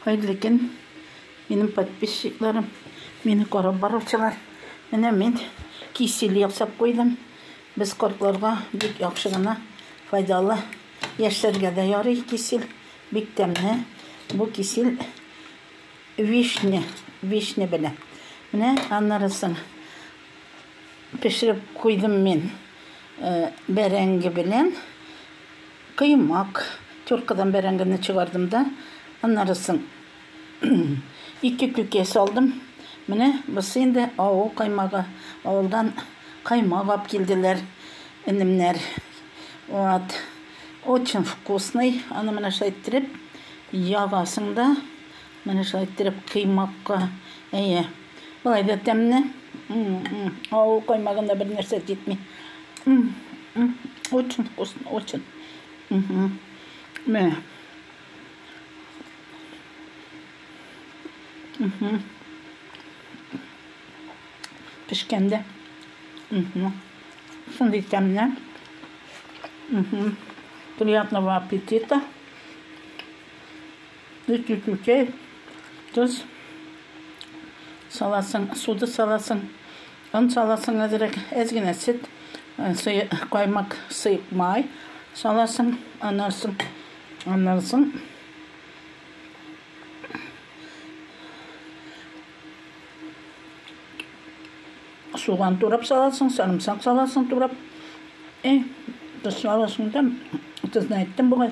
Хәерле көн, минем подписчикларым, мине карап баручылар. Менә мин кисель ясап куйдым. Без кортларга бик яхшы гына файдалы. Яшьләргә дә ярый кисель, бик тәмле. Бу кисель вишня, вишня белән. Менә аннарысын пешереп куйдым мин э, бәрәңге белән. Коймак, тёркадан бәрәңгене чыгардым да, аннары соң ике күкә салдым. Менә бусы инде авыл каймагы. Авылдан каймак алып килделәр энемнәр. Вот. Очень вкусный. Аны менә шулай иттереп ягасың да, менә шулай иттереп кыймакка. Әйе. Болай да тәмне. Авыл каймагында бер нәрсә җитми. Очень вкусно, очень. Менә. Пешкәндә. Шундый тәмне. Приятного аппетита. Өти күкәй, тоз саласың, суды саласың, он саласың әзрәк, әз генә сөт, каймак, сыек май саласың, аннан соң, аннан соң суган турап саласың, сарымсак саласың турап. Э, тозлавасың да, тозны әйттем бугай.